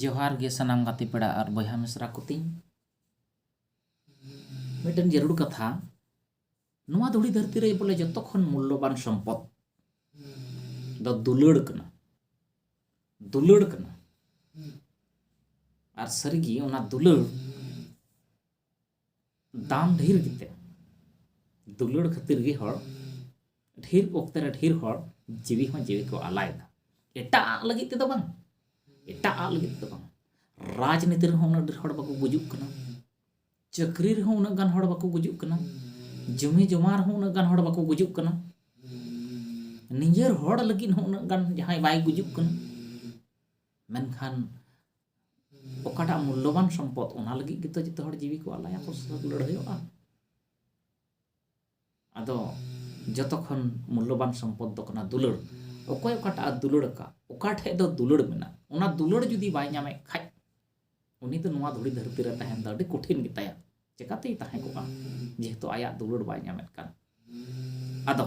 ᱡᱚᱦᱟᱨ ᱜᱮ ᱥᱟᱱᱟᱢ ᱜᱟᱛᱮ ᱯᱮᱲᱟ ᱟᱨ ᱵᱚᱭᱦᱟ ᱢᱤᱥᱨᱟ ᱠᱚ ᱛᱤᱧ ᱢᱤᱫᱴᱮᱱ ᱡᱟᱹᱨᱩᱲ ᱠᱟᱛᱷᱟ ᱱᱚᱣᱟ ᱫᱷᱩᱲᱤ ᱫᱷᱟᱹᱨᱛᱤ ᱨᱮ ᱵᱚᱞᱮ ᱡᱚᱛᱚ ᱠᱷᱚᱱ ᱢᱩᱞᱞᱚᱵᱟᱱ ᱥᱚᱢᱯᱚᱫ ᱫᱚ ᱫᱩᱞᱟᱹᱲ ᱠᱟᱱᱟ ᱫᱩᱞᱟᱹᱲ ᱠᱟᱱᱟ ᱟᱨ ᱥᱟᱹᱨᱤᱜᱮ ᱚᱱᱟ ᱫᱩᱞᱟᱹᱲ ᱫᱟᱢ ᱰᱷᱮᱨ ᱜᱮᱛᱮ ᱫᱩᱞᱟᱹᱲ ᱠᱷᱟᱹᱛᱤᱨ ᱜᱮ ᱦᱚᱲ ᱰᱷᱮᱨ ᱚᱠᱛᱮ ᱨᱮ ᱰᱷᱮᱨ ᱦᱚᱲ ᱡᱤᱣᱤ ᱦᱚᱸ ᱡᱤᱣᱤ ᱠᱚ ᱟᱞᱟᱭᱮᱫᱟ ᱮᱴᱟᱜ ᱞᱟᱹᱜᱤᱫ ᱛᱮᱫᱚ ᱵᱟᱝ ᱮᱴᱟᱜ ᱞᱟᱹᱜᱤᱫ ᱛᱮᱫᱚ ᱵᱟᱝ ᱨᱟᱡᱽᱱᱤᱛᱤ ᱨᱮᱦᱚᱸ ᱩᱱᱟᱹᱜ ᱰᱷᱮᱨ ᱦᱚᱲ ᱵᱟᱠᱚ ᱜᱩᱡᱩᱜ ᱠᱟᱱᱟ ᱪᱟᱹᱠᱨᱤ ᱨᱮᱦᱚᱸ ᱩᱱᱟᱹᱜ ᱜᱟᱱ ᱦᱚᱲ ᱵᱟᱠᱚ ᱜᱩᱡᱩᱜ ᱠᱟᱱᱟ ᱡᱚᱢᱤ ᱡᱚᱢᱟ ᱨᱮᱦᱚᱸ ᱩᱱᱟᱹᱜ ᱜᱟᱱ ᱦᱚᱲ ᱵᱟᱠᱚ ᱜᱩᱡᱩᱜ ᱠᱟᱱᱟ ᱱᱤᱡᱮᱨ ᱦᱚᱲ ᱞᱟᱹᱜᱤᱫ ᱦᱚᱸ ᱩᱱᱟᱹᱜ ᱜᱟᱱ ᱡᱟᱦᱟᱸᱭ ᱵᱟᱭ ᱜᱩᱡᱩᱜ ᱠᱟᱱᱟ ᱢᱮᱱᱠᱷᱟᱱ ᱚᱠᱟᱴᱟᱜ ᱢᱩᱞᱞᱚᱵᱟᱱ ᱥᱚᱢᱯᱚᱫ ᱚᱱᱟ ᱞᱟᱹᱜᱤᱫ ᱜᱮᱛᱚ ᱡᱚᱛᱚ ᱦᱚᱲ ᱡᱤᱣᱤ ᱠᱚ ᱟᱞᱟᱭᱟ ᱟᱠᱚ ᱥᱟᱛᱮ ᱞᱟᱹᱲᱦᱟᱹᱭᱚᱜᱼᱟ ᱟᱫᱚ ᱡᱚᱛᱚ ᱠᱷᱚᱱ ᱢᱩᱞᱞᱚᱵᱟᱱ ᱥᱚᱢᱯᱚᱫ ᱫᱚ ᱠᱟᱱᱟ ᱫᱩᱞᱟᱹᱲ ᱚᱠᱚᱭ ᱚᱠᱟᱴᱟᱜ ᱫᱩᱞᱟᱹᱲ ᱟᱠᱟᱫ ᱚᱠᱟ ᱴᱷᱮᱡ ᱫᱚ ᱫᱩᱞᱟᱹᱲ ᱢᱮᱱᱟᱜ ᱚᱱᱟ ᱫᱩᱞᱟᱹᱲ ᱡᱩᱫᱤ ᱵᱟᱭ ᱧᱟᱢᱮᱫ ᱠᱷᱟᱡ ᱩᱱᱤ ᱫᱚ ᱱᱚᱣᱟ ᱫᱷᱩᱲᱤ ᱫᱷᱟᱹᱨᱛᱤ ᱨᱮ ᱛᱟᱦᱮᱱ ᱫᱚ ᱟᱹᱰᱤ ᱠᱚᱴᱷᱤᱱ ᱜᱮᱛᱟᱭᱟ ᱪᱮᱠᱟᱛᱮᱭ ᱛᱟᱦᱮᱸ ᱠᱚᱜᱼᱟ ᱡᱮᱦᱮᱛᱩ ᱟᱭᱟᱜ ᱫᱩᱞᱟᱹᱲ ᱵᱟᱭ ᱧᱟᱢᱮᱫ ᱠᱟᱱ ᱟᱫᱚ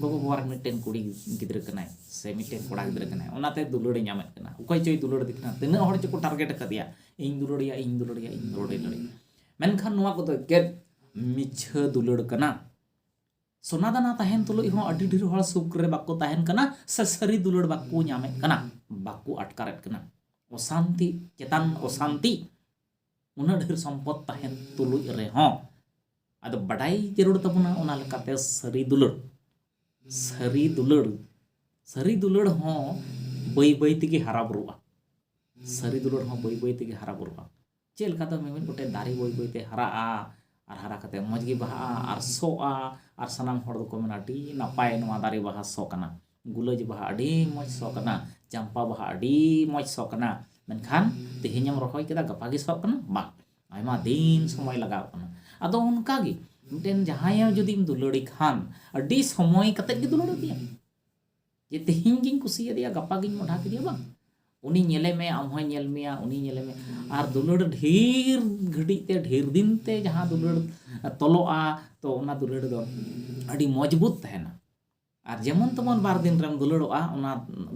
ᱜᱚᱜᱚ ᱵᱟᱵᱟ ᱨᱮᱱ ᱢᱤᱫᱴᱮᱱ ᱠᱩᱲᱤ ᱜᱤᱫᱽᱨᱟᱹ ᱠᱟᱱᱟᱭ ᱥᱮ ᱢᱤᱫᱴᱮᱱ ᱠᱚᱲᱟ ᱜᱤᱫᱽᱨᱟᱹ ᱠᱟᱱᱟᱭ ᱚᱱᱟᱛᱮ ᱫᱩᱞᱟᱹᱲᱮ ᱧᱟᱢᱮᱫ ᱠᱟᱱᱟ ᱚᱠᱚᱭ ᱪᱚᱭ ᱫᱩᱞᱟᱹᱲᱮᱫᱮ ᱠᱟᱱᱟ ᱛᱤᱱᱟᱹᱜ ᱦᱚᱲ ᱪᱚᱠᱚ ᱴᱟᱨᱜᱮᱴ ᱟᱠᱟᱫᱮᱭᱟ ᱤᱧ ᱫᱩᱞᱟᱹᱲᱮᱭᱟ ᱤᱧ ᱫᱩᱞᱟᱹᱲᱮᱭᱟ ᱤᱧ ᱫᱩᱞᱟᱹᱲᱮᱭᱟ ᱢᱮᱱᱠᱷᱟᱱ ᱱᱚᱣᱟ ᱠᱚᱫᱚ ᱮᱠᱮᱱ ᱢᱤᱪᱷᱟᱹ ᱫᱩᱞᱟᱹᱲ ᱠᱟᱱᱟ ᱥᱚᱱᱟᱫᱟᱱᱟ ᱛᱟᱦᱮᱱ ᱛᱩᱞᱩᱡ ᱦᱚᱸ ᱟᱹᱰᱤ ᱰᱷᱮᱨ ᱦᱚᱲ ᱥᱩᱠ ᱨᱮ ᱵᱟᱠᱚ ᱛᱟᱦᱮᱱ ᱠᱟᱱᱟ ᱥᱮ ᱥᱟᱹᱨᱤ ᱫᱩᱞᱟᱹᱲ ᱵᱟᱠᱚ ᱧᱟᱢᱮᱫ ᱠᱟᱱᱟ ᱵᱟᱠᱚ ᱟᱴᱠᱟᱨᱮᱫ ᱠᱟᱱᱟ ᱚᱥᱟᱱᱛᱤ ᱪᱮᱛᱟᱱ ᱚᱥᱟᱱᱛᱤ ᱩᱱᱟᱹᱜ ᱰᱷᱮᱨ ᱥᱚᱢᱯᱚᱫ ᱛᱟᱦᱮᱱ ᱛᱩᱞᱩᱡ ᱨᱮᱦᱚᱸ ᱟᱫᱚ ᱵᱟᱰᱟᱭ ᱡᱟᱹᱨᱩᱲ ᱛᱟᱵᱚᱱᱟ ᱚᱱᱟ ᱞᱮᱠᱟᱛᱮ ᱥᱟᱹᱨᱤ ᱫᱩᱞᱟᱹᱲ ᱥᱟᱹᱨᱤ ᱫᱩᱞᱟᱹᱲ ᱥᱟᱹᱨᱤ ᱫᱩᱞᱟᱹᱲ ᱦᱚᱸ ᱵᱟᱹᱭ ᱵᱟᱹᱭ ᱛᱮᱜᱮ ᱦᱟᱨᱟ ᱵᱩᱨᱩᱜᱼᱟ ᱥᱟᱹᱨᱤ ᱫᱩᱞᱟᱹᱲ ᱦᱚᱸ ᱵᱟᱹᱭ ᱵᱟᱹᱭ ᱛᱮᱜᱮ ᱦᱟᱨᱟ ᱵᱩᱨᱩᱜᱼᱟ ᱪᱮᱫ ᱞᱮᱠᱟ ᱫᱚ ᱢᱤᱢᱤᱫ ᱜᱚᱴᱮᱡ ᱫᱟᱨᱮ ᱵᱟᱹᱭ ᱵᱟᱹᱭ ᱛᱮ ᱦᱟᱨᱟᱜᱼᱟ ᱟᱨ ᱦᱟᱨᱟ ᱠᱟᱛᱮ ᱢᱚᱡᱽ ᱜᱮ ᱵᱟᱦᱟᱜᱼᱟ ᱟᱨ ᱥᱚᱜᱼᱟ ᱟᱨ ᱥᱟᱱᱟᱢ ᱦᱚᱲ ᱫᱚᱠᱚ ᱢᱮᱱᱟ ᱟᱹᱰᱤ ᱱᱟᱯᱟᱭ ᱱᱚᱣᱟ ᱫᱟᱨᱮ ᱵᱟᱦᱟ ᱥᱚ ᱠᱟᱱᱟ ᱜᱩᱞᱟᱹᱡ ᱵᱟᱦᱟ ᱟᱹᱰᱤ ᱢᱚᱡᱽ ᱥᱚ ᱠᱟᱱᱟ ᱪᱟᱢᱯᱟ ᱵᱟᱦᱟ ᱟᱹᱰᱤ ᱢᱚᱡᱽ ᱥᱚ ᱠᱟᱱᱟ ᱢᱮᱱᱠᱷᱟᱱ ᱛᱮᱦᱮᱧ ᱮᱢ ᱨᱚᱦᱚᱭ ᱠᱮᱫᱟ ᱜᱟᱯᱟ ᱜᱮ ᱥᱚᱜ ᱠᱟᱱᱟ ᱵᱟᱝ ᱟᱭᱢᱟ ᱫᱤᱱ ᱥᱚᱢᱚᱭ ᱞᱟᱜᱟᱣ ᱠᱟᱱᱟ ᱟᱫᱚ ᱚᱱᱠᱟ ᱜᱮ ᱢᱤᱫᱴᱮᱱ ᱡᱟᱦᱟᱸᱭ ᱡᱩᱫᱤᱢ ᱫᱩᱞᱟᱹᱲᱮ ᱠᱷᱟᱱ ᱟᱹᱰᱤ ᱥᱚᱢᱚᱭ ᱠᱟᱛᱮᱫ ᱜᱮ ᱫᱩᱞᱟᱹᱲ ᱤᱫᱤᱭᱟ ᱡᱮ ᱛᱮᱦᱮᱧ ᱜᱤᱧ ᱠᱩᱥᱤᱭᱟᱫᱮᱭᱟ ᱜᱟᱯᱟ ᱜᱤᱧ ᱢᱚᱰᱷᱟ ᱠᱮᱫᱮᱭᱟ ᱵᱟᱝ ᱩᱱᱤ ᱧᱮᱞᱮ ᱢᱮ ᱟᱢ ᱦᱚᱸᱭ ᱧᱮᱞ ᱢᱮᱭᱟ ᱩᱱᱤ ᱧᱮᱞᱮ ᱢᱮ ᱟᱨ ᱫᱩᱞᱟᱹᱲ ᱰᱷᱮᱨ ᱜᱷᱟᱹᱲᱤᱡ ᱛᱮ ᱰᱷᱮᱨ ᱫᱤᱱ ᱛᱮ ᱡᱟᱦᱟᱸ ᱫᱩᱞᱟᱹᱲ ᱛᱚᱞᱚᱜᱼᱟ ᱛᱚ ᱚᱱᱟ ᱫᱩᱞᱟᱹᱲ ᱫᱚ ᱟᱹᱰᱤ ᱢᱚᱡᱽᱵᱩᱛ ᱛᱟᱦᱮᱱᱟ ᱟᱨ ᱡᱮᱢᱚᱱ ᱛᱮᱢᱚᱱ ᱵᱟᱨ ᱫᱤᱱ ᱨᱮᱢ ᱫᱩᱞᱟᱹᱲᱚᱜᱼᱟ ᱚᱱᱟ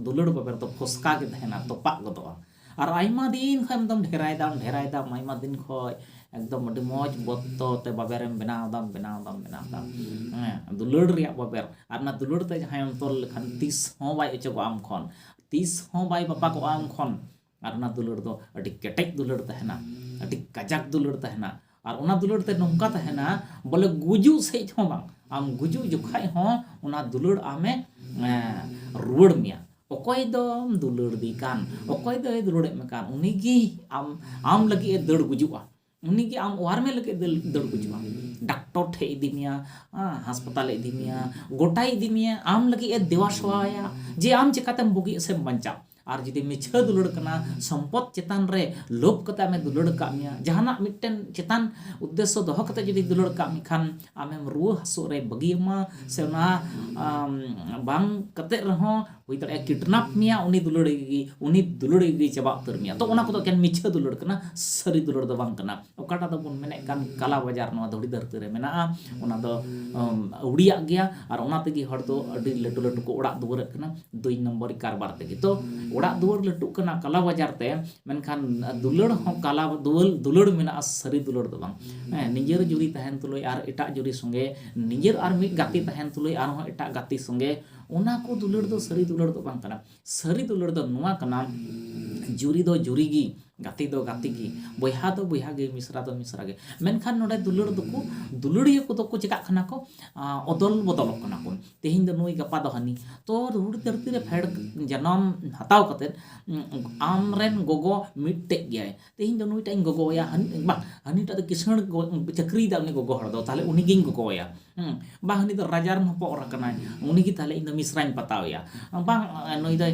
ᱫᱩᱞᱟᱹᱲ ᱵᱟᱵᱮᱨ ᱫᱚ ᱯᱷᱚᱥᱠᱟ ᱜᱮ ᱛᱟᱦᱮᱱᱟ ᱛᱚᱯᱟᱜ ᱜᱚᱫᱚᱜᱼᱟ ᱟᱨ ᱟᱭᱢᱟ ᱫᱤᱱ ᱠᱷᱚᱱ ᱮᱠᱫᱚᱢ ᱰᱷᱮᱨᱟᱭ ᱫᱟᱢ ᱰᱷᱮᱨᱟᱭ ᱫᱟᱢ ᱟᱭᱢᱟ ᱫᱤᱱ ᱠᱷᱚᱱ ᱮᱠᱫᱚᱢ ᱟᱹᱰᱤ ᱢᱚᱡᱽ ᱵᱚᱛᱛᱚ ᱛᱮ ᱵᱟᱵᱮᱨ ᱮᱢ ᱵᱮᱱᱟᱣ ᱫᱟᱢ ᱵᱮᱱᱟᱣ ᱫᱟᱢ ᱵᱮᱱᱟᱣ ᱫᱟᱢ ᱦᱮᱸ ᱫᱩᱞᱟᱹᱲ ᱨᱮᱭᱟᱜ ᱵᱟᱵᱮᱨ ᱟᱨ ᱚᱱᱟ ᱫᱩᱞᱟᱹᱲ ᱛᱮ ᱡᱟᱦᱟᱸᱭᱮᱢ ᱛᱚᱞ ᱞᱮᱠᱷᱟᱱ ᱛᱤᱥ ᱦᱚᱸ ᱵᱟᱭ ᱚᱪᱚᱜᱚᱜᱼᱟ ᱟᱢ ᱠᱷᱚᱱ ᱛᱤᱥ ᱦᱚᱸ ᱵᱟᱭ ᱵᱟᱯᱟᱜᱚᱜᱼᱟ ᱟᱢ ᱠᱷᱚᱱ ᱟᱨ ᱚᱱᱟ ᱫᱩᱞᱟᱹᱲ ᱫᱚ ᱟᱹᱰᱤ ᱠᱮᱴᱮᱡ ᱫᱩᱞᱟᱹᱲ ᱛᱟᱦᱮᱱᱟ ᱟᱹᱰᱤ ᱠᱟᱡᱟᱠ ᱫᱩᱞᱟᱹᱲ ᱛᱟᱦᱮᱱᱟ ᱟᱨ ᱚᱱᱟ ᱫᱩᱞᱟᱹᱲ ᱛᱮ ᱱᱚᱝᱠᱟ ᱛᱟᱦᱮᱱᱟ ᱵᱚᱞᱮ ᱜᱩᱡᱩᱜ ᱥᱮᱡ ᱦᱚᱸ ᱵᱟᱝ ᱟᱢ ᱜᱩᱡᱩᱜ ᱡᱚᱠᱷᱟᱡ ᱦᱚᱸ ᱚᱱᱟ ᱫᱩᱞᱟᱹᱲ ᱟᱢᱮ ᱨᱩᱣᱟᱹᱲ ᱢᱮᱭᱟ ᱚᱠᱚᱭ ᱫᱚᱢ ᱫᱩᱞᱟᱹᱲ ᱫᱮ ᱠᱟᱱ ᱚᱠᱚᱭ ᱫᱚᱭ ᱫᱩᱞᱟᱹᱲᱮᱫ ᱢᱮ ᱠᱟᱱ ᱩᱱᱤᱜᱮ ᱟᱢ ᱟᱢ ᱞᱟᱹᱜᱤᱫ ᱮ ᱫᱟᱹᱲ ᱜᱩᱡᱩᱜᱼᱟ ᱩᱱᱤ ᱜᱮ ᱟᱢ ᱚᱣᱟᱨ ᱢᱮ ᱞᱟᱹᱜᱤᱫ ᱫᱟᱹᱲ ᱠᱚ ᱦᱤᱡᱩᱜᱼᱟ ᱰᱟᱠᱴᱚᱨ ᱴᱷᱮᱡ ᱤᱫᱤ ᱢᱮᱭᱟ ᱦᱟᱥᱯᱟᱛᱟᱞ ᱤᱫᱤ ᱢᱮᱭᱟ ᱜᱚᱴᱟᱭ ᱤᱫᱤ ᱢᱮᱭᱟ ᱟᱢ ᱞᱟᱹᱜᱤᱫ ᱮ ᱫᱮᱣᱟ ᱥᱮᱣᱟᱭᱟ ᱡᱮ ᱟᱢ ᱪᱤᱠᱟᱛᱮᱢ ᱵᱩᱜᱤᱜ ᱥᱮᱢ ᱵᱟᱧᱪᱟᱜ ᱟᱨ ᱡᱩᱫᱤ ᱢᱤᱪᱷᱟᱹ ᱫᱩᱞᱟᱹᱲ ᱠᱟᱱᱟ ᱥᱚᱢᱯᱚᱫ ᱪᱮᱛᱟᱱ ᱨᱮ ᱞᱳᱵᱷ ᱠᱟᱛᱮ ᱟᱢᱮ ᱫᱩᱞᱟᱹᱲ ᱠᱟᱜ ᱢᱮᱭᱟ ᱡᱟᱦᱟᱱᱟᱜ ᱢᱤᱫᱴᱮᱱ ᱪᱮᱛᱟᱱ ᱩᱫᱽᱫᱮᱥᱥᱚ ᱫᱚᱦᱚ ᱠᱟᱛᱮ ᱡᱩᱫᱤ ᱫᱩᱞᱟᱹᱲ ᱠᱟᱜ ᱢᱮᱠᱷᱟᱱ ᱟᱢᱮᱢ ᱨᱩᱣᱟᱹ ᱦᱟᱹᱥᱩᱜ ᱨᱮ ᱵᱟᱹᱜᱤᱭᱟᱢᱟ ᱥᱮ ᱚᱱᱟ ᱵᱟᱝ ᱠᱟᱛᱮ ᱨᱮᱦᱚᱸ ᱦᱩᱭ ᱫᱟᱲᱮᱭᱟᱜᱼᱟ ᱠᱤᱰᱱᱟᱯ ᱢᱮᱭᱟ ᱩᱱᱤ ᱫᱩᱞᱟᱹᱲ ᱜᱮ ᱩᱱᱤ ᱫᱩᱞᱟᱹᱲ ᱜᱮ ᱪᱟᱵᱟ ᱩᱛᱟᱹᱨ ᱢᱮᱭᱟ ᱛᱚ ᱚᱱᱟ ᱠᱚᱫᱚ ᱮᱠᱮᱱ ᱢᱤᱪᱷᱟᱹ ᱫᱩᱞᱟᱹᱲ ᱠᱟᱱᱟ ᱥᱟᱹᱨᱤ ᱫᱩᱞᱟᱹᱲ ᱫᱚ ᱵᱟᱝ ᱠᱟᱱᱟ ᱚᱠᱟᱴᱟᱜ ᱫᱚᱵᱚᱱ ᱢᱮᱱᱮᱫ ᱠᱟᱱ ᱠᱟᱞᱟ ᱵᱟᱡᱟᱨ ᱱᱚᱣᱟ ᱫᱷᱩᱲᱤ ᱫᱷᱟᱹᱨᱛᱤ ᱨᱮ ᱢᱮᱱᱟᱜᱼᱟ ᱚᱱᱟ ᱫᱚ ᱟᱹᱣᱲᱤᱭᱟᱜ ᱜᱮᱭᱟ ᱟᱨ ᱚᱱᱟ ᱛᱮᱜᱮ ᱦᱚᱲ ᱫᱚ ᱟᱹᱰᱤ ᱞᱟᱹᱴᱩ ᱞᱟᱹᱴᱩ ᱠᱚ ᱚᱲᱟᱜ ᱫᱩᱣᱟᱹᱨᱟᱜ ᱠᱟᱱᱟ ᱫᱩᱭ ᱱᱚᱢᱵᱚᱨ ᱠᱟᱨᱵᱟᱨ ᱛᱮᱜᱮ ᱛᱚ ᱚᱲᱟᱜ ᱫᱩᱣᱟᱹᱨ ᱞᱟᱹᱴᱩᱜ ᱠᱟᱱᱟ ᱠᱟᱞᱟ ᱵᱟᱡᱟᱨ ᱛᱮ ᱢᱮᱱᱠᱷᱟᱱ ᱫᱩᱞᱟᱹᱲ ᱦᱚᱸ ᱠᱟᱞᱟ ᱫᱩᱣᱟᱹᱨ ᱫᱩᱞᱟᱹᱲ ᱢᱮᱱᱟᱜᱼᱟ ᱥᱟᱹᱨᱤ ᱫᱩᱞᱟᱹᱲ ᱫᱚ ᱵᱟᱝ ᱦᱮᱸ ᱱᱤᱡᱮᱨ ᱡᱩᱨᱤ ᱛᱟᱦᱮᱱ ᱛᱩᱞᱩᱡ ᱟᱨ ᱮᱴᱟᱜ ᱡᱩᱨᱤ ᱥᱚᱸᱜᱮ ᱱᱤᱡᱮᱨ ᱟᱨ ᱢᱤᱫ ᱜᱟᱛᱮ ᱛᱟᱦᱮᱱ ᱛᱩᱞᱩᱡ ᱟᱨᱦᱚᱸ ᱮᱴᱟᱜ ᱜᱟᱛᱮ ᱥᱚᱸᱜᱮ ᱚᱱᱟ ᱠᱚ ᱫᱩᱞᱟᱹᱲ ᱫᱚ ᱥᱟᱹᱨᱤ ᱫᱩᱞᱟᱹᱲ ᱫᱚ ᱵᱟᱝ ᱠᱟᱱᱟ ᱥᱟᱹᱨᱤ ᱫᱩᱞᱟᱹᱲ ᱫᱚ ᱱᱚᱣᱟ ᱠᱟᱱᱟ ᱡᱩᱨᱤ ᱫᱚ ᱡᱩᱨᱤ ᱜᱮ ᱜᱟᱛᱮ ᱫᱚ ᱜᱟᱛᱮ ᱜᱮ ᱵᱚᱭᱦᱟ ᱫᱚ ᱵᱚᱭᱦᱟ ᱜᱮ ᱢᱤᱥᱨᱟ ᱫᱚ ᱢᱤᱥᱨᱟ ᱜᱮ ᱢᱮᱱᱠᱷᱟᱱ ᱱᱚᱰᱮ ᱫᱩᱞᱟᱹᱲ ᱫᱚᱠᱚ ᱫᱩᱞᱟᱹᱲᱤᱭᱟᱹ ᱠᱚᱫᱚ ᱠᱚ ᱪᱤᱠᱟᱹᱜ ᱠᱟᱱᱟ ᱠᱚ ᱚᱫᱚᱞ ᱵᱚᱫᱚᱞᱚᱜ ᱠᱟᱱᱟ ᱠᱚ ᱛᱮᱦᱮᱧ ᱫᱚ ᱱᱩᱭ ᱜᱟᱯᱟ ᱫᱚ ᱦᱟᱹᱱᱤ ᱛᱚ ᱫᱷᱩᱲᱤ ᱫᱷᱟᱹᱨᱛᱤ ᱨᱮ ᱯᱷᱮᱰ ᱡᱚᱱᱚᱢ ᱦᱟᱛᱟᱣ ᱠᱟᱛᱮᱫ ᱟᱢ ᱨᱮᱱ ᱜᱚᱜᱚ ᱢᱤᱫᱴᱮᱱ ᱜᱮᱭᱟᱭ ᱛᱮᱦᱮᱧ ᱫᱚ ᱱᱩᱭᱴᱟᱜ ᱤᱧ ᱜᱚᱜᱚᱣᱟᱭᱟ ᱵᱟᱝ ᱦᱟᱹᱱᱤᱴᱟᱜ ᱫᱚ ᱠᱤᱥᱟᱹᱬ ᱪᱟᱹᱠᱨᱤᱭᱮᱫᱟᱭ ᱩᱱᱤ ᱜᱚᱜᱚ ᱦᱚᱲ ᱫᱚ ᱛᱟᱦᱚᱞᱮ ᱩᱱᱤᱜᱤᱧ ᱜᱚᱜᱚᱣᱟᱭᱟ ᱵᱟᱝ ᱩᱱᱤ ᱫᱚ ᱨᱟᱡᱟ ᱨᱮᱱ ᱦᱚᱯᱚᱱ ᱮᱨᱟ ᱠᱟᱱᱟᱭ ᱩᱱᱤᱜᱮ ᱛᱟᱦᱚᱞᱮ ᱤᱧ ᱫᱚ ᱢᱤᱥᱨᱟᱧ ᱯᱟᱛᱟᱣᱮᱭᱟ ᱵᱟᱝ ᱱᱩᱭ ᱫᱚᱭ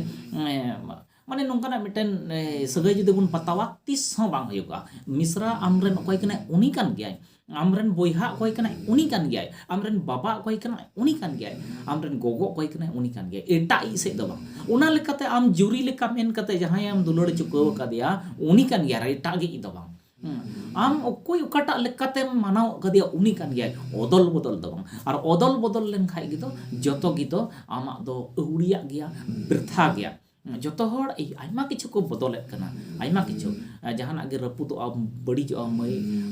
ᱢᱟᱱᱮ ᱱᱚᱝᱠᱟᱱᱟᱜ ᱢᱤᱫᱴᱮᱱ ᱥᱟᱹᱜᱟᱹᱭ ᱡᱩᱫᱤ ᱵᱚᱱ ᱯᱟᱛᱟᱣᱟ ᱛᱤᱥ ᱦᱚᱸ ᱵᱟᱝ ᱦᱩᱭᱩᱜᱚᱜᱼᱟ ᱢᱤᱥᱨᱟ ᱟᱢᱨᱮᱱ ᱚᱠᱚᱭ ᱠᱟᱱᱟᱭ ᱩᱱᱤ ᱠᱟᱱ ᱜᱮᱭᱟᱭ ᱟᱢ ᱨᱮᱱ ᱵᱚᱭᱦᱟ ᱚᱠᱚᱭ ᱠᱟᱱᱟᱭ ᱩᱱᱤ ᱠᱟᱱ ᱜᱮᱭᱟᱭ ᱟᱢ ᱨᱮᱱ ᱵᱟᱵᱟ ᱚᱠᱚᱭ ᱠᱟᱱᱟᱭ ᱩᱱᱤ ᱠᱟᱱ ᱜᱮᱭᱟᱭ ᱟᱢ ᱨᱮᱱ ᱜᱚᱜᱚ ᱚᱠᱚᱭ ᱠᱟᱱᱟᱭ ᱩᱱᱤ ᱠᱟᱱ ᱜᱮᱭᱟᱭ ᱮᱴᱟᱜ ᱤᱡ ᱥᱮᱫ ᱫᱚ ᱵᱟᱝ ᱚᱱᱟ ᱞᱮᱠᱟᱛᱮ ᱟᱢ ᱡᱩᱨᱤ ᱞᱮᱠᱟ ᱢᱮᱱ ᱠᱟᱛᱮ ᱡᱟᱦᱟᱸᱭ ᱟᱢ ᱫᱩᱞᱟᱹᱲ ᱪᱩᱠᱟᱹᱣ ᱟᱠᱟᱫᱮᱭᱟ ᱩᱱᱤ ᱠᱟᱱ ᱜᱮᱭᱟᱭ ᱟᱨ ᱮᱴᱟᱜ ᱜᱮ ᱤᱡ ᱫᱚ ᱵᱟᱝ ᱟᱢ ᱚᱠᱚᱭ ᱚᱠᱟᱴᱟᱜ ᱞᱮᱠᱟᱛᱮᱢ ᱢᱟᱱᱟᱣ ᱟᱠᱟᱫᱮᱭᱟ ᱩᱱᱤ ᱠᱟᱱ ᱜᱮᱭᱟᱭ ᱚᱫᱚᱞ ᱵᱚᱫᱚᱞ ᱫᱚ ᱵᱟᱝ ᱟᱨ ᱚᱫᱚᱞ ᱵᱚᱫᱚᱞ ᱞᱮᱱᱠᱷᱟᱡ ᱜᱮᱫᱚ ᱡᱚᱛᱚ ᱜᱮᱫᱚ ᱟᱢᱟᱜ ᱫᱚ ᱟᱹᱣᱲᱤᱭᱟᱜ ᱜᱮᱭᱟ ᱵᱨᱛᱷᱟ ᱜᱮᱭᱟ ᱡᱚᱛᱚ ᱦᱚᱲ ᱟᱭᱢᱟ ᱠᱤᱪᱷᱩ ᱠᱚ ᱵᱚᱫᱚᱞᱮᱫ ᱠᱟᱱᱟ ᱟᱭᱢᱟ ᱠᱤᱪᱷᱩ ᱡᱟᱦᱟᱱᱟᱜ ᱜᱮ ᱨᱟᱹᱯᱩᱫᱚᱜᱼᱟ ᱵᱟᱹᱲᱤᱡᱚᱜᱼᱟ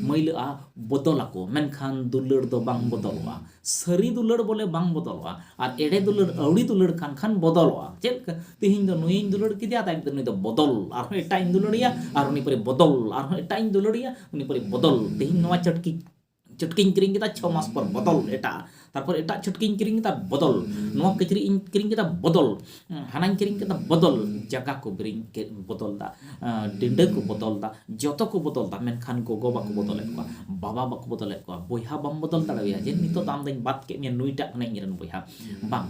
ᱢᱟᱹᱭᱞᱟᱹᱜᱼᱟ ᱵᱚᱫᱚᱞ ᱟᱠᱚ ᱢᱮᱱᱠᱷᱟᱱ ᱫᱩᱞᱟᱹᱲ ᱫᱚ ᱵᱟᱝ ᱵᱚᱫᱚᱞᱚᱜᱼᱟ ᱥᱟᱹᱨᱤ ᱫᱩᱞᱟᱹᱲ ᱵᱚᱞᱮ ᱵᱟᱝ ᱵᱚᱫᱚᱞᱚᱜᱼᱟ ᱟᱨ ᱮᱲᱮ ᱫᱩᱞᱟᱹᱲ ᱟᱹᱣᱲᱤ ᱫᱩᱞᱟᱹᱲ ᱠᱟᱱ ᱠᱷᱟᱱ ᱵᱚᱫᱚᱞᱚᱜᱼᱟ ᱪᱮᱫ ᱞᱮᱠᱟ ᱛᱮᱦᱮᱧ ᱫᱚ ᱱᱩᱭᱤᱧ ᱫᱩᱞᱟᱹᱲ ᱠᱮᱫᱮᱭᱟ ᱟᱫᱚ ᱮᱠᱫᱚᱢ ᱱᱩᱭ ᱫᱚ ᱵᱚᱫᱚᱞ ᱟᱨᱦᱚᱸ ᱮᱴᱟᱜ ᱤᱧ ᱫᱩᱞᱟᱹᱲᱮᱭᱟ ᱟᱨ ᱩᱱᱤ ᱯᱚᱨᱮ ᱵᱚᱫᱚᱞ ᱟᱨᱦᱚᱸ ᱮᱴᱟᱜ ᱤᱧ ᱫᱩᱞᱟᱹᱲᱮᱭᱟ ᱩᱱᱤ ᱯᱚᱨᱮ ᱵᱚᱫᱚᱞ ᱛᱮᱦᱮᱧ ᱱᱚᱣᱟ ᱪᱟᱹᱴᱠᱤ ᱪᱷᱩᱴᱠᱤᱧ ᱠᱤᱨᱤᱧ ᱠᱮᱫᱟ ᱪᱷᱚ ᱢᱟᱥ ᱯᱚᱨ ᱵᱚᱫᱚᱞ ᱮᱴᱟᱜ ᱛᱟᱨᱯᱚᱨ ᱮᱴᱟᱜ ᱪᱷᱩᱴᱠᱤᱧ ᱠᱤᱨᱤᱧ ᱠᱮᱫᱟ ᱵᱚᱫᱚᱞ ᱱᱚᱣᱟ ᱠᱤᱪᱨᱤᱡ ᱤᱧ ᱠᱤᱨᱤᱧ ᱠᱮᱫᱟ ᱵᱚᱫᱚᱞ ᱦᱟᱱᱟᱧ ᱠᱤᱨᱤᱧ ᱠᱮᱫᱟ ᱵᱚᱫᱚᱞ ᱡᱟᱸᱜᱟ ᱠᱚ ᱵᱤᱨᱤᱧ ᱵᱚᱫᱚᱞ ᱫᱟ ᱰᱤᱸᱰᱟᱹ ᱠᱚ ᱵᱚᱫᱚᱞ ᱫᱟ ᱡᱚᱛᱚ ᱠᱚ ᱵᱚᱫᱚᱞ ᱫᱟ ᱢᱮᱱᱠᱷᱟᱱ ᱜᱚᱜᱚ ᱵᱟᱠᱚ ᱵᱚᱫᱚᱞᱮᱫ ᱠᱚᱣᱟ ᱵᱟᱵᱟ ᱵᱟᱠᱚ ᱵᱚᱫᱚᱞᱮᱫ ᱠᱚᱣᱟ ᱵᱚᱭᱦᱟ ᱵᱟᱢ ᱵᱚᱫᱚᱞ ᱫᱟᱲᱮᱣᱟᱭᱟ ᱡᱮ ᱱᱤᱛᱚᱜ ᱫᱚ ᱟᱢ ᱫᱚᱧ ᱵᱟᱫ ᱠᱮᱫ ᱢᱮᱭᱟ ᱱᱩᱭᱴᱟᱜ ᱠᱟᱱᱟᱭ ᱤᱧᱨᱮᱱ ᱵᱚᱭᱦᱟ ᱵᱟᱝ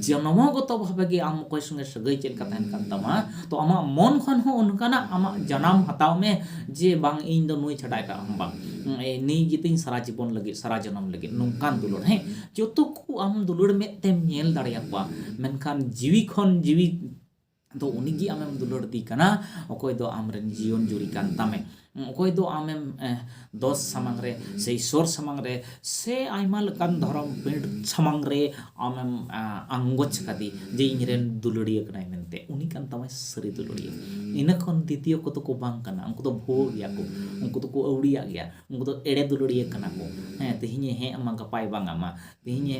ᱡᱚᱱᱢᱚ ᱜᱚᱛᱚ ᱵᱷᱟᱵᱮ ᱜᱮ ᱟᱢ ᱚᱠᱚᱭ ᱥᱚᱸᱜᱮ ᱥᱟᱹᱜᱟᱹᱭ ᱪᱮᱫ ᱞᱮᱠᱟ ᱛᱟᱦᱮᱱ ᱠᱟᱱ ᱛᱟᱢᱟ ᱛᱚ ᱟᱢᱟᱜ ᱢᱚᱱ ᱠᱷᱚᱱ ᱦᱚᱸ ᱚᱱᱠᱟᱱᱟᱜ ᱟᱢᱟᱜ ᱡᱟᱱᱟᱢ ᱦᱟᱛᱟᱣ ᱢᱮ ᱡᱮ ᱵᱟᱝ ᱤᱧ ᱫᱚ ᱱᱩᱭ ᱪᱷᱟᱰᱟ ᱮᱴᱟᱜ ᱦᱚᱸ ᱵᱟᱝ ᱱᱩᱭ ᱜᱮᱛᱤᱧ ᱥᱟᱨᱟ ᱡᱤᱵᱚᱱ ᱞᱟᱹᱜᱤᱫ ᱥᱟᱨᱟ ᱡᱚᱱᱚᱢ ᱞᱟᱹᱜᱤᱫ ᱱᱚᱝᱠᱟᱱ ᱫᱩᱞᱟᱹᱲ ᱦᱮᱸ ᱡᱚᱛᱚ ᱠᱚ ᱟᱢ ᱫᱩᱞᱟᱹᱲ ᱢᱮᱫ ᱛᱮᱢ ᱧᱮᱞ ᱫᱟᱲᱮᱭᱟᱠᱚᱣᱟ ᱢᱮᱱᱠᱷᱟᱱ ᱡᱤᱣᱤ ᱠᱷᱚᱱ ᱡᱤᱣᱤ ᱫᱚ ᱩᱱᱤ ᱜᱮ ᱟᱢᱮᱢ ᱫᱩᱞᱟᱹᱲ ᱫᱮ ᱠᱟᱱᱟ ᱚᱠᱚᱭ ᱫᱚ ᱟᱢ ᱨᱮᱱ ᱡᱤᱭᱚᱱ ᱡᱩᱨᱤ ᱠᱟᱱ ᱛᱟᱢᱮ ᱚᱠᱚᱭ ᱫᱚ ᱟᱢᱮᱢ ᱫᱚᱥ ᱥᱟᱢᱟᱝ ᱨᱮ ᱥᱮ ᱤᱥᱥᱚᱨ ᱥᱟᱢᱟᱝ ᱨᱮ ᱥᱮ ᱟᱭᱢᱟ ᱞᱮᱠᱟᱱ ᱫᱷᱚᱨᱚᱢ ᱯᱤᱲ ᱥᱟᱢᱟᱝ ᱨᱮ ᱟᱢᱮᱢ ᱟᱝᱜᱚᱪ ᱠᱟᱫᱮ ᱡᱮ ᱤᱧ ᱨᱮᱱ ᱫᱩᱞᱟᱹᱲᱤᱭᱟᱹ ᱠᱟᱱᱟᱭ ᱢᱮᱱᱛᱮ ᱩᱱᱤ ᱠᱟᱱ ᱛᱟᱢᱟᱭ ᱥᱟᱹᱨᱤ ᱫᱩᱞᱟᱹᱲᱤᱭᱟᱹ ᱤᱱᱟᱹ ᱠᱷᱚᱱ ᱫᱤᱛᱤᱭᱚ ᱠᱚᱫᱚ ᱠᱚ ᱵᱟᱝ ᱠᱟᱱᱟ ᱩᱱᱠᱩ ᱫᱚ ᱵᱷᱩᱣᱟᱹ ᱜᱮᱭᱟ ᱠᱚ ᱩᱱᱠᱩ ᱫᱚᱠᱚ ᱟᱹᱣᱲᱤᱭᱟᱜ ᱜᱮᱭᱟ ᱩᱱᱠᱩ ᱫᱚ ᱮᱲᱮ ᱫᱩᱞᱟᱹᱲᱤᱭᱟᱹ ᱠᱟᱱᱟ ᱠᱚ ᱦᱮᱸ ᱛᱮᱦᱮᱧᱮ ᱦᱮᱸ ᱟᱢᱟ ᱜᱟᱯᱟᱭ ᱵᱟᱝ ᱟᱢᱟ ᱛᱮᱦᱮᱧᱮ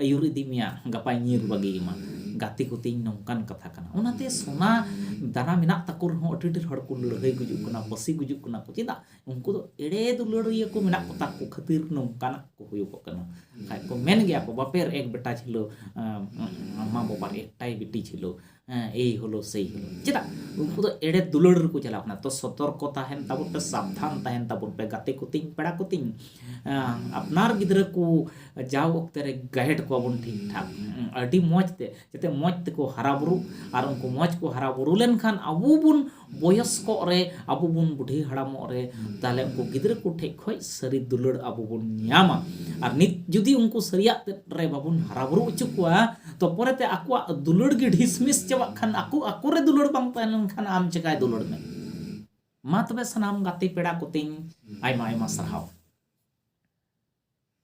ᱟᱹᱭᱩᱨ ᱤᱫᱤ ᱢᱮᱭᱟ ᱜᱟᱯᱟᱭ ᱧᱤᱨ ᱵᱟᱹᱜᱤ ᱟᱢᱟ ᱜᱟᱛᱮ ᱠᱚᱛᱤᱧ ᱱᱚᱝᱠᱟᱱ ᱠᱟᱛᱷᱟ ᱠᱟᱱᱟ ᱚᱱᱟᱛᱮ ᱥᱚᱱᱟ ᱫᱟᱱᱟ ᱢᱮᱱᱟᱜ ᱛᱟᱠᱚ ᱨᱮᱦᱚᱸ ᱟᱹᱰᱤ ᱰᱷᱮᱨ ᱦᱚᱲ ᱠᱚ ᱞᱟᱹᱲᱦᱟᱹᱭ ᱜᱩᱡᱩᱜ ᱠᱟᱱᱟ ᱯᱟᱹᱥᱤ ᱜᱩᱡᱩᱜ ᱠᱟᱱᱟ ᱠᱚ ᱪᱮᱫᱟᱜ ᱩᱱᱠᱩ ᱫᱚ ᱮᱲᱮ ᱫᱩᱞᱟᱹᱲᱤᱭᱟᱹ ᱠᱚ ᱢᱮᱱᱟᱜ ᱠᱚᱛᱟ ᱠᱚ ᱠᱷᱟᱹᱛᱤᱨ ᱱᱚᱝᱠᱟᱱᱟᱜ ᱠᱚ ᱦᱩᱭᱩᱜᱚᱜ ᱠᱟᱱᱟ ᱵᱟᱠᱷᱟᱱ ᱠᱚ ᱢᱮᱱ ᱜᱮᱭᱟ ᱠᱚ ᱵᱟᱯᱮᱨ ᱮᱠ ᱵᱮᱴᱟ ᱡᱷᱤᱞᱳ ᱢᱟᱢᱟ ᱵᱟᱵᱟ ᱮᱠᱴᱟᱭ ᱵᱤᱴᱤ ᱡᱷᱤᱞᱳ ᱦᱮᱸ ᱮᱭ ᱦᱳᱞᱳ ᱥᱮᱭ ᱦᱳᱞᱳ ᱪᱮᱫᱟᱜ ᱩᱱᱠᱩ ᱫᱚ ᱮᱲᱮ ᱫᱩᱞᱟᱹᱲ ᱨᱮᱠᱚ ᱪᱟᱞᱟᱣ ᱠᱟᱱᱟ ᱛᱚ ᱥᱚᱛᱚᱨᱠᱚ ᱛᱟᱦᱮᱱ ᱛᱟᱵᱚᱱ ᱯᱮ ᱥᱟᱵᱫᱷᱟᱱ ᱛᱟᱦᱮᱱ ᱛᱟᱵᱚᱱ ᱯᱮ ᱜᱟᱛᱮ ᱠᱚ ᱛᱤᱧ ᱯᱮᱲᱟ ᱠᱚ ᱛᱤᱧ ᱟᱯᱱᱟᱨ ᱜᱤᱫᱽᱨᱟᱹ ᱠᱚ ᱡᱟᱣ ᱚᱠᱛᱮ ᱨᱮ ᱜᱟᱭᱤᱰ ᱠᱚᱣᱟ ᱵᱚᱱ ᱴᱷᱤᱠ ᱴᱷᱟᱠ ᱟᱹᱰᱤ ᱢᱚᱡᱽ ᱛᱮ ᱡᱟᱛᱮ ᱢᱚᱡᱽ ᱛᱮᱠᱚ ᱦᱟᱨᱟ ᱵᱩᱨᱩᱜ ᱟᱨ ᱩᱱᱠᱩ ᱢᱚᱡᱽ ᱠᱚ ᱦᱟᱨᱟ ᱵᱩᱨᱩ ᱞᱮᱱᱠᱷᱟᱱ ᱟᱵᱚ ᱵᱚᱱ ᱵᱚᱭᱚᱥᱠᱚᱜ ᱨᱮ ᱟᱵᱚ ᱵᱚᱱ ᱵᱩᱰᱷᱤ ᱦᱟᱲᱟᱢᱚᱜ ᱨᱮ ᱛᱟᱦᱚᱞᱮ ᱩᱱᱠᱩ ᱜᱤᱫᱽᱨᱟᱹ ᱠᱚ ᱴᱷᱮᱡ ᱠᱷᱚᱡ ᱥᱟᱹᱨᱤ ᱫᱩᱞᱟᱹᱲ ᱟᱵᱚ ᱵᱚᱱ ᱧᱟᱢᱟ ᱟᱨ ᱱᱤᱛ ᱡᱩᱫᱤ ᱩᱱᱠᱩ ᱥᱟᱹᱨᱤᱭᱟᱜ ᱛᱮᱫ ᱨᱮ ᱵᱟᱵᱚᱱ ᱦᱟᱨᱟ ᱵᱩᱨᱩ ᱚᱪᱚ ᱠᱚᱣᱟ ᱛᱚ ᱯᱚᱨᱮᱛᱮ ᱟᱠᱚᱣᱟᱜ ᱫᱩᱞᱟᱹᱲ ᱜᱮ ᱰᱷᱤᱥᱢᱤᱥ ᱪᱟᱵᱟᱜ ᱠᱷᱟᱱ ᱟᱠᱚ ᱟᱠᱚ ᱨᱮ ᱫᱩᱞᱟᱹᱲ ᱵᱟᱝ ᱛᱟᱦᱮᱸ ᱞᱮᱱᱠᱷᱟᱱ ᱟᱢ ᱪᱮᱠᱟᱭ ᱫᱩᱞᱟᱹᱲ ᱢᱮ ᱢᱟ ᱛᱚᱵᱮ ᱥᱟᱱᱟᱢ ᱜᱟᱛᱮ ᱯᱮᱲᱟ ᱠᱚᱛᱤᱧ ᱟᱭᱢᱟ ᱟᱭᱢᱟ ᱥᱟᱨᱦᱟᱣ